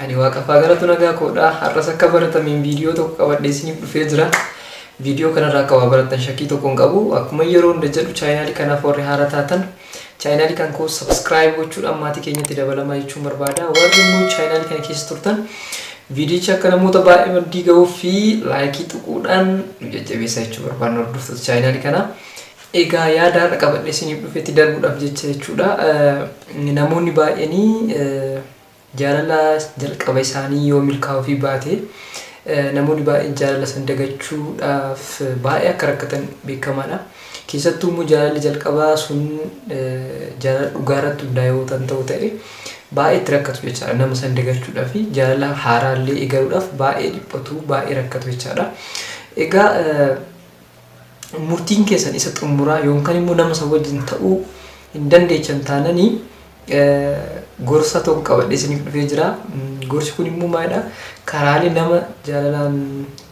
Ani waaqaffaa galatu nagaa koodha. Har'as akka baratameen viidiyoo tokko qabadhee isiniif dhufee jira. Viidiyoo kanarraa akka waa barattan shakkii tokko hin qabu. Akkuma yeroo hunda jedhu chaayinaalii kanaaf warri haara taatan chaayinaalii kan koo sabskiraayib gochuudhaan maatii keenyatti dabalamaa jechuun barbaada. Warri immoo chaayinaalii kana keessa turtan viidiyichi akka namoota baay'ee maddii ga'uu fi laayikii tuquudhaan nu jajjabeessaa jechuu barbaadna hordoftoota chaayinaalii kanaa. Egaa yaada har'a qabadhee isiniif dhufetti darbuudhaaf jecha jechuudha. Namoonni baay'een Jaalala jalqaba isaanii yoo milkaa'uufii baate, namoonni baay'een jaalala san dagachuudhaaf baay'ee akka rakkatan beekamaadha. Keessattuu immoo jaalalli jalqabaa sun jaalala dhugaa irratti hundaa'e yoo tan ta'u ta'e baay'ee itti rakkatu jechaadha. Nama san dagachuudhaa fi jaalala haaraa illee eegaluudhaaf baay'ee dhiphatu, baay'ee rakkatu jechaadha. Egaa murtiin keessan isa xumuraa yookaan immoo nama san wajjin ta'uu hin dandeechan taananii Gorsa tokko qabadhee isiniif dhufee jira. Gorsi kun immoo maalidha? Karaalee nama jaalalaan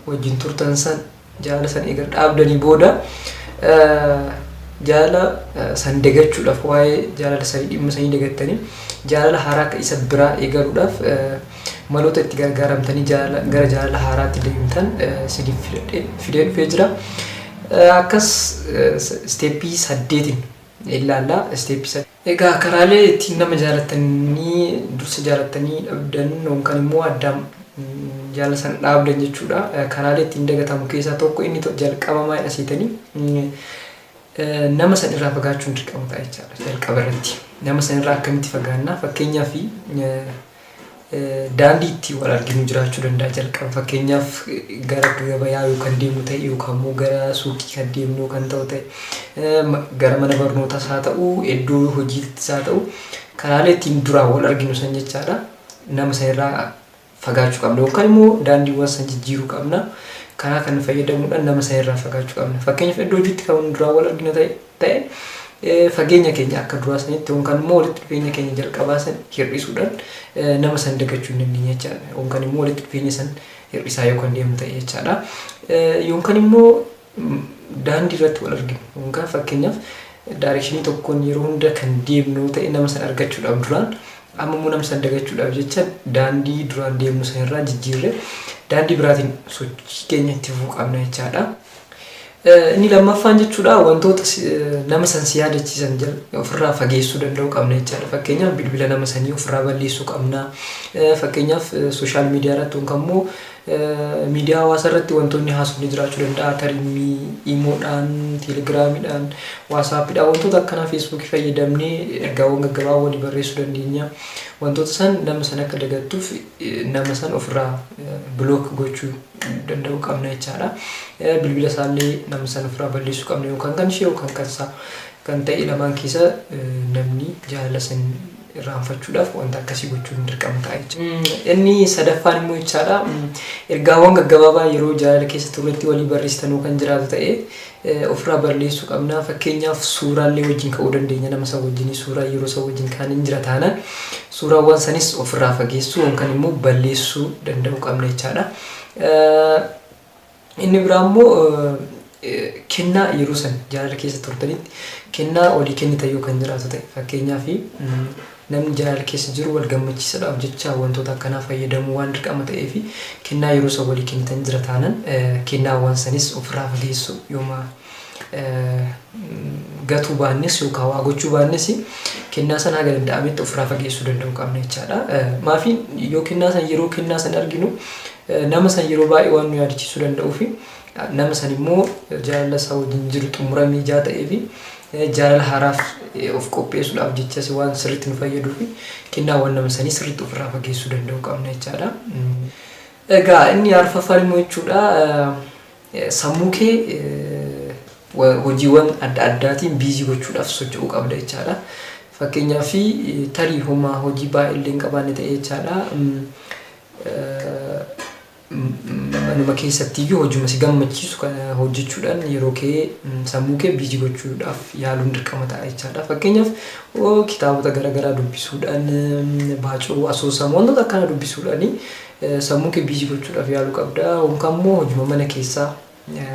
wajjin turtan san jaalala san eega dhaabdanii booda jaalala san dagachuudhaaf waa'ee jaalala sanii dhimma sanii dagattanii jaalala haaraa akka isa biraa eegaluudhaaf maloota itti gargaaramtanii jaalala gara jaalala haaraatti deemtan isiniif fidadhee fidee dhufee jira. Akkas isteeppii saddeetiin ilaalla. Isteeppii saddeet. Egaa karaalee ittiin nama jaalattanii dursa jaalattanii dhabdan yookaan immoo addaan jaalala sana dhaabdan jechuudha. Karaalee ittiin dagatamu keessaa tokko inni to- jalqaba maalidha seetanii mm, eh, nama san irraa fagaachuun dirqama ta'a jechaadha jalqaba irratti. Nama san irraa akkamitti fagaannaa fakkeenyaaf eh, Daandii ittiin wal arginu jiraachuu danda'a jalqaba fakkeenyaaf gara gabayaa yoo kan deemnu ta'e yookaan immoo gara suuqii kan deemnu yoo kan ta'u ta'e gara mana barnootaas haa ta'u iddoo hojiittis haa ta'u karaalee ittiin duraan wal arginu san jechaadha nama sanirraa fagaachuu qabna yookaan immoo daandiiwwan san jijjiiruu qabna karaa kan fayyadamuudhaan nama sanirraa fagaachuu qabna fakkeenyaaf iddoo hojiitti kan duraan wal arginu ta'e ta'e fageenya keenya akka duraa sanitti yookaan immoo walitti dhufeenya keenya jalqabaa san hir'isuudhaan nama san dagachuu hin dandeenye jechaadha. Yookaan immoo walitti dhufeenya san hir'isaa yookaan deemu ta'e jechaadha. Yookaan immoo daandii irratti wal arginu yookaan fakkeenyaaf daarekshinii tokkoon yeroo hunda kan deemnu ta'e nama san argachuudhaaf duraan amma immoo nama san dagachuudhaaf jecha daandii duraan deemnu sanirraa jijjiirree daandii biraatiin sochii keenya itti fufuu qabna jechaadha. Inni lammaffaan jechuudha wantoota nama san si yaadachiisan ofirraa fageessuu danda'uu qabna jechaadha. Fakkeenyaaf bilbila nama sanii ofirraa balleessuu qabna. Fakkeenyaaf sooshaal miidiyaa irratti yookaan immoo miidiyaa hawaasaa irratti wantoonni haasofni jiraachuu danda'a. Tarimmii, imoodhaan, teelegiraamiidhaan, waasaappiidhaan wantoota akkanaa feesbuukii fayyadamnee ergaawwan gaggabaaboo walii barreessuu dandeenya. Wantoota san nama san akka dagattuuf nama san ofirraa bilook gochuu danda'u qabna jechaadha. Bilbila isaallee nama san ofirraa balleessuu qabna yookaan kan ishee yookaan kan isaa kan ta'e lamaan keessa namni jaalala san irraanfachuudhaaf wanta akkasii gochuun dirqama ta'a jechuudha. Inni sadaffaan immoo jechaadha ergaawwan gaggabaabaa yeroo jaalala keessa turretti walii barreessitanuu kan jiraatu ta'e ofirraa balleessuu qabna. Fakkeenyaaf suuraallee wajjin ka'uu dandeenya nama san wajjin suuraa yeroo san wajjin ka'an hin jira taanaan suuraawwan sanis ofirraa fageessuu yookaan immoo balleessuu danda'uu qabna jechaadha. Inni biraa immoo kennaa yeroo san jaalala keessa turtanitti kennaa olii kennitan yoo kan jiraatu ta'e fakkeenyaaf Namni jaalala keessa jiru wal gammachiisadhaaf jecha wantoota akkanaa fayyadamuu waan dirqama ta'eefi kennaa yeroo san walii kennitan jira taanan kennaawwan sanis ofirraa fageessuu yooma gatuu baannes yookaan waa gochuu baannes kennaa san haga danda'ametti ofirraa fageessuu danda'uu qabna jechaadha. Maafi yoo kennaa san yeroo kennaa san arginu nama san yeroo baay'ee waan nu yaadachiisuu danda'uufi Nama san immoo jaalala isaa wajjin jiru xumuramee ijaa ta'ee fi jaalala haaraaf of qopheessuudhaaf jechas waan sirriitti nu fayyaduu fi kennaawwan nama sanii sirriitti ofirraa fageessuu danda'u qabna jechaadha. Egaa inni arfaffaan immoo jechuudha sammuu kee hojiiwwan adda addaatiin biizii gochuudhaaf socho'uu qabda jechaadha. Fakkeenyaaf tarii homaa hojii baay'ee illee hin qabaanne ta'e jechaadha. Manuma keessattiyyuu hojuma si gammachiisu kana hojjechuudhaan yeroo kee sammuu kee biizi gochuudhaaf yaaluun dirqama ta'a jechaadha. Fakkeenyaaf kitaabota garaagaraa dubbisuudhaan baacoo asoosama wantoota akkana dubbisuudhaan sammuu kee biizi gochuudhaaf yaaluu qabda. Yookaan immoo hojuma mana keessaa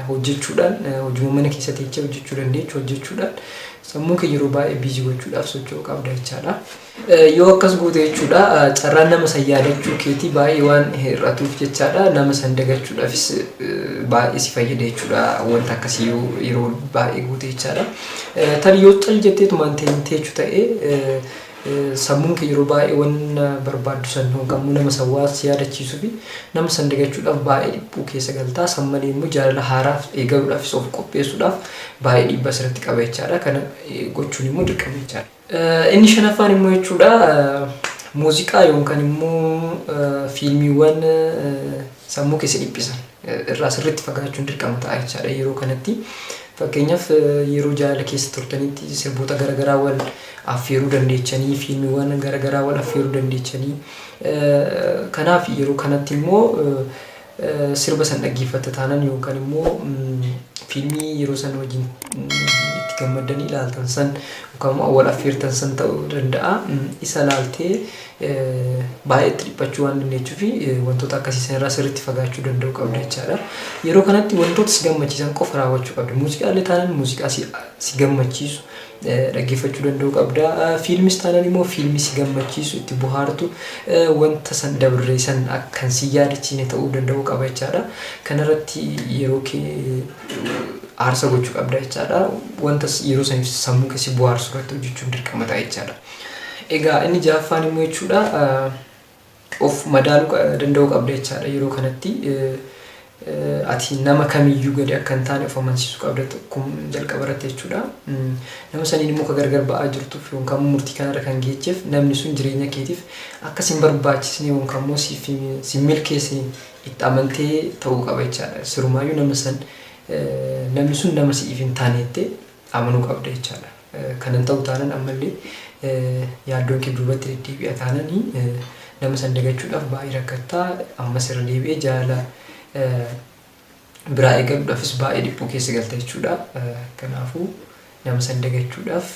hojjechuudhaan hojuma mana keessa teechee hojjechuu dandeechu hojjechuudhaan sammuu kee yeroo baay'ee biizii gochuudhaaf socho'uu qabda jechaadha. Yoo akkas goote jechuudha carraan nama san yaadachuu keetii baay'ee waan hir'atuuf jechaadha nama san dagachuudhaafis baay'ee si fayyada jechuudha wanta akkasii yoo yeroo baay'ee goote jechaadha. Tarii yoo cal jetteetumaan teechuu ta'ee Sammuun kee yeroo baay'ee wanna barbaaddu san honqamuu nama san waan si yaadachiisuufi nama san dagachuudhaaf baay'ee dhiphuu keessa galta. San malee immoo jaalala haaraaf eegaluudhaafis of qopheessuudhaaf baay'ee dhiibbaa sirratti qaba jechaadha. Kana gochuun immoo dirqama jechaadha. Inni shanaffaan immoo jechuudha muuziqaa yookaan immoo fiilmiiwwan sammuu kee si dhiphisan irraa sirriitti fagaachuun dirqama ta'a jechaadha yeroo kanatti. Fakkeenyaaf yeroo jaalala keessa turtanitti sirboota garaagaraa wal affeeruu dandeechanii, fiilmiiwwan garaagaraa wal affeeruu dandeechanii. Kanaaf yeroo kanatti immoo sirba san dhaggeeffatta taanan yookaan immoo fiilmii yeroo san wajjin itti gammaddanii ilaaltan san yookaan immoo wal affeertan san ta'uu danda'a. Isa ilaaltee baay'ee itti dhiphachuu waan dandeechuu fi wantoota akkasii san irraa sirriitti fagaachuu danda'uu qabda jechaadha. Yeroo kanatti wantoota si gammachiisan qofa raawwachuu qabda. Muuziqaa illee taanaan muuziqaa si, si gammachiisu dhaggeeffachuu danda'uu qabda. Fiilmis taanaan immoo fiilmii si gammachiisu itti bohaartu wanta san dabree san akkan si yaadachiine ta'uu danda'uu qaba jechaadha. Kanarratti yeroo kee aarsa gochuu qabda jechaadha. Wanta yeroo saniif sammuu kee si bohaarsu irratti hojjechuun dirqama ta'a jechaadha. Egaa inni ja'affaan immoo jechuudha of madaaluu danda'uu qabda jechaadha yeroo kanatti ati nama kamiyyuu gadi akka hin taane of amansiisuu qabda kun jalqaba irratti jechuudha. Nama saniin immoo ka gargar ba'aa jirtuuf yookaan murtii kanarra kan geecheef namni sun jireenya keetiif akka sin barbaachisne yookaan immoo siif sin milkeessine itti amantee ta'uu qaba jechaadha. Sirumaayyuu nama san namni sun nama si'iif hin taane jettee amanuu qabda jechaadha. Kan hin ta'u taanan ammallee yaaddoon kee duubatti deddeebi'a taanani nama san dagachuudhaaf baay'ee rakkatta ammas irra deebi'ee jaalala biraa eegaluudhaafis baay'ee dhiphuu keessa galta jechuudha. Kanaafuu nama san dagachuudhaaf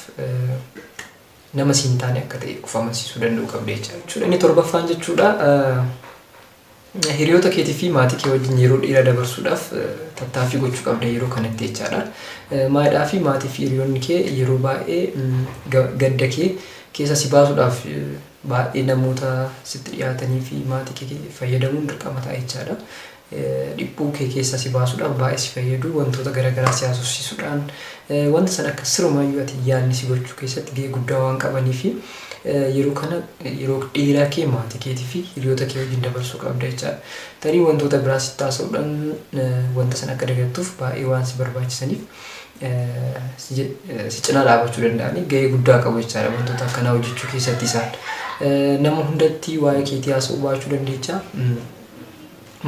nama siin taane akka ta'e of amansiisuu danda'uu qabda jechuudha. Inni torbaffaan jechuudha Hiriyoota keetii fi maatii kee wajjin yeroo dheeraa dabarsuudhaaf tattaaffii gochuu qabda yeroo kanatti jechaadha. Maadhaa fi maatii fi hiriyoonni kee yeroo baay'ee gadda kee keessa si baasuudhaaf baay'ee namoota sitti dhiyaatanii fi maatii kee fayyadamuun dirqama ta'a jechaadha. Dhiphuu kee keessa si baasuudhaaf baay'ee si fayyadu wantoota garaagaraa si haasofsiisuudhaan wanta sana akka sirumaayyuu ati yaadni si gochuu keessatti gahee guddaa waan qabanii fi Yeroo kana yeroo dheeraa kee maatii keetii fi hiriyoota kee wajjin dabarsuu qabda jechaadha. Tarii wantoota biraa sitti haasa'uudhaan wanta sana akka dagattuuf baay'ee waan si barbaachisaniif si cinaa dhaabachuu danda'anii gahee guddaa qabu jechaadha wantoota akkanaa hojjechuu keessatti isaan. Nama hundatti waa'ee keetii haasa'uu baachuu dandeecha.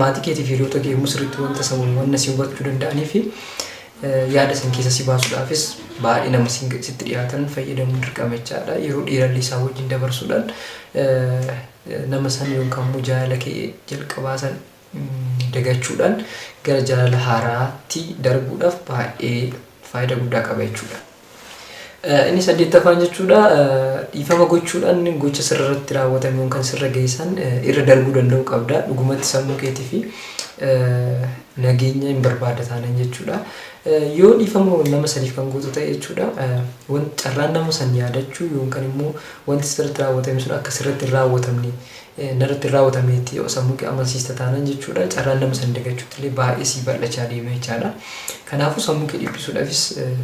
Maatii keetiif hiriyoota kee yommuu sirriitti wanta isa wal wanna si hubachuu danda'anii fi yaada san keessa si baasuudhaafis baay'ee nama sitti dhiyaatan fayyadamuun dirqama jechaadha. Yeroo dheerallee isaa wajjin dabarsuudhaan nama san yookaan immoo jaalala kee jalqabaa san dagachuudhaan gara jaalala haaraatti darbuudhaaf baay'ee faayidaa guddaa qaba jechuudha. Inni saddeettaffaan jechuudha dhiifama gochuudhaan gocha sirra irratti raawwatame yookiin kan sirra geessan irra darbuu danda'uu qabda. Dhugumatti sammuu keetii fi nageenya hin barbaada taanan jechuudha. Yoo dhiifama nama saniif kan gootu ta'e jechuudha carraan nama san yaadachuu yookiin immoo wanti sirratti raawwatame sun akka sirratti hin raawwatamne narratti hin raawwatameetti yoo sammuu kee amansiista taanaan jechuudha carraan nama san dagachuutti illee baay'ee sii bal'achaa deema jechaadha. Kanaafuu sammuu kee dhiphisuudhaafis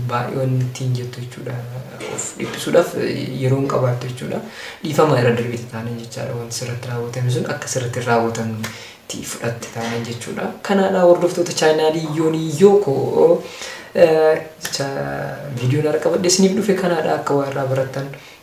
baay'ee wanni ittiin jettu jechuudha. Of dhiphisuudhaaf yeroo hin qabaattu jechuudha. Dhiifama irra darbeeti taanaan jechaadha wanti sirratti raawwatame sun akka sirratti hin raawwatamnetti fudhatte taanaan jechuudha. Kanaadha hordoftoota chaayinaalii yoonii yoo koo jecha viidiyoon har'a qabadhe isiniif dhufe kanaadha akka waa irraa barattan